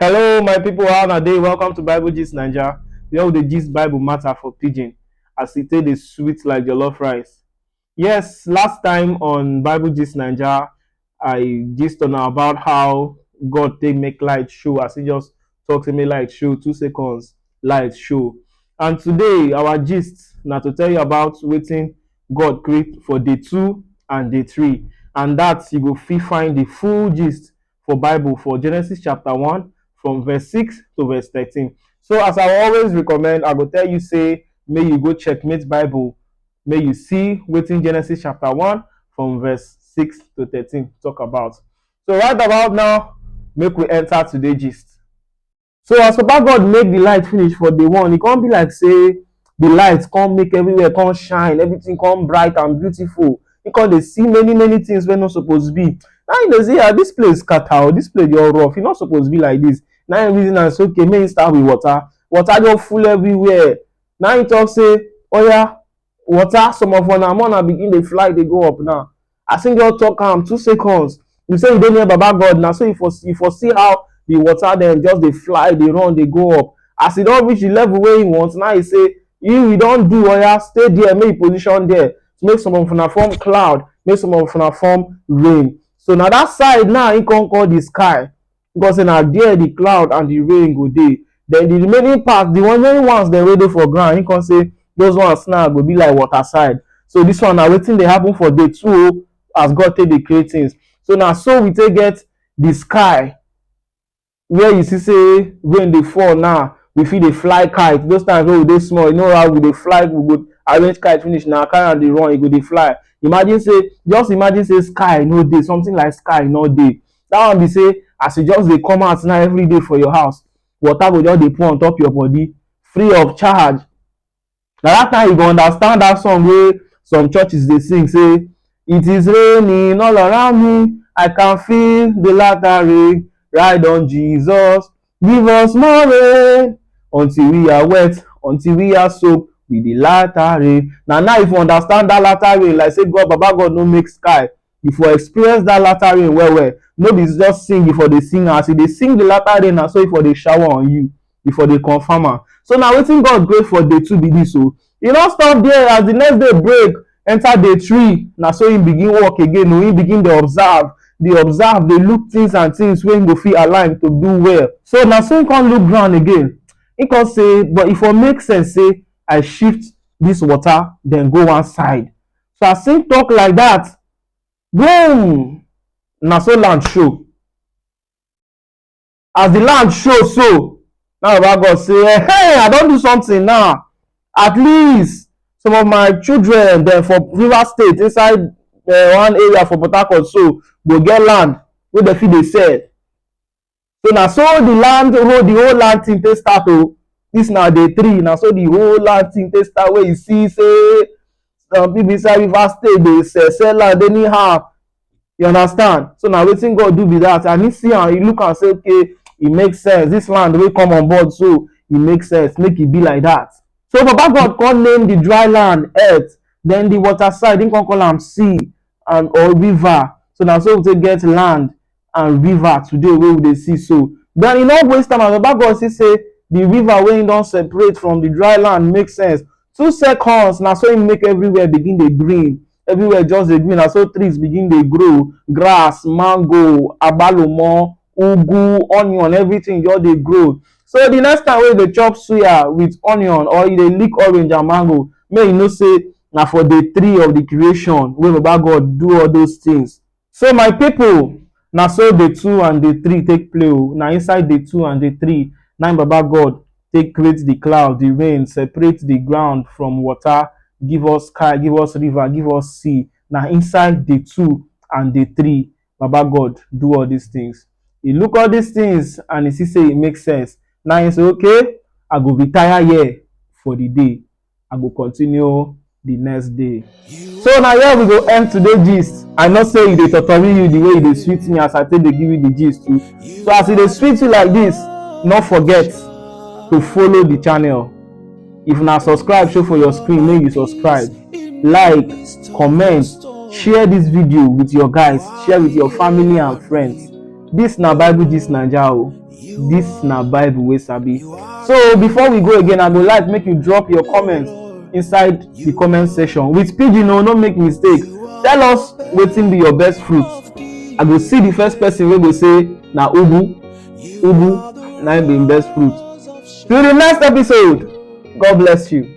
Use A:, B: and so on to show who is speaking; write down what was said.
A: Hello, my people. How na dey? Welcome to Bible Gist Naija. Where we dey gist Bible matter for pidgin as e take dey sweet like jollof rice. Yes, last time on Bible Gist Naija, I gist on about how God take make light show as he just talk say make light show two seconds light show. And today our gist na to tell you about wetin God create for day two and day three. And that you go fit find the full gist for Bible for Genesis chapter 1 from verse 6 to verse 13. So as I always recommend, I go tell you say may you go checkmate Bible, may you see within Genesis chapter 1 from verse 6 to 13 talk about. So right about now, make we enter today gist. So as Papa God make the light finish for day one, e come be like say the light come make everywhere come shine, everything come bright and beautiful. He come dey see many many things wey no suppose be. Now he dey see ah this place scatter oh, this place just rough, e no suppose be like this. Now he reason am say okay make he start with water, water just full everywhere. Now he talk say oya water some of una more na begin dey fly dey go up now as him just talk am two seconds you say you dey near baba god na so you for you for see how the water dem just dey fly dey run dey go up as e don reach the level wey him want now he say you you don do oya stay there make you position there make some of una form cloud make some of una form rain so na that side now him come call the sky God say na there the cloud and the rain go dey then the remaining part the remaining ones dem wey dey for ground he come say those ones now go be like water side so this one na wetin dey happen for day two o oh, as God take dey create things so na so we take get the sky where you see say rain dey fall now we fit dey fly kite those times wey we dey small you know how we dey fly we go arrange kite finish na carry am dey run e go dey fly imagine say just imagine say sky no dey something like sky no dey that one be say as you just dey come out now every day for your house water go just dey pour on top your body free of charge na that time you go understand that song wey some churches dey sing say it is raining all around me i can feel the latter rain ride on jesus give us more rain until we are wet until we are soaked with the latter rain na now if you understand that latter rain like say god baba god no make sky you for experience that latter rain well well no be just sing you for dey sing as you dey sing the latter rain na so e for dey shower on you e for dey confirm am so na wetin God create for day two be this o e no stop there as the next day break enter day three na so him begin work again o him begin dey observe dey observe dey look things and things wey him go fit align to do well so na so him come look ground again him come say but e for make sense say I shift this water then go one side So as him talk like that, boom! Na so land show. As the land show so, now Baba God say, hey, I don do something now. At least some of my children dem for Rivers State inside uh, one area for Port Harcourt so go get land wey dem fit dey sell. so na so the land whole the whole land thing take start o oh. this na day three na so the whole land thing take start wey you see say some people inside river state dey sell sell land anyhow you understand so na wetin god do be that and he see am he look am say okay e make sense this land wey come on board so e make sense make e be like that so baba god come name the dry land earth then the water side he come call am sea and or river so na so we take get land and river today wey we dey see so. Den e no waste time as Baba God see sey de river wey im don separate from de dry land make sense. Two seconds na so im make everywhere begin dey green, everywhere just dey green na so trees begin dey grow, grass, mango, agbalumo, ugwu, onion everything just dey grow. So de next time wey you dey chop suya wit onion or you dey lick orange and mango make you know sey na for day three of de creation wey Baba God do all those things. So my people, na so day two and day three take play o. Na inside day two and day three, na im Baba God take create the cloud, the rain, separate the ground from water, give us sky, give us river, give us sea. Na inside day two and day three, Baba God do all these things. He look all these things and he see say e make sense. Na im say, okay, I go retire here for the day. I go continue the next day. So na here we go end today gist. I know say e dey totori you the way e dey sweet me as I take dey give you the gist too. So as e dey sweet you like this, no forget to follow the channel. If na subscribe show for your screen, make you subscribe, like, comment, share this video with your guys, share with your family and friends. This na Bible Gist Naija o. This na Bible wey sabi. So before we go again, I go like make you drop your comments inside the comment section. With pidgin o, no make mistake. Tell us wetin be your best fruit. I go see the first person wey go say na ugu, ugu na im be im best fruit. Till the next episode, God bless you.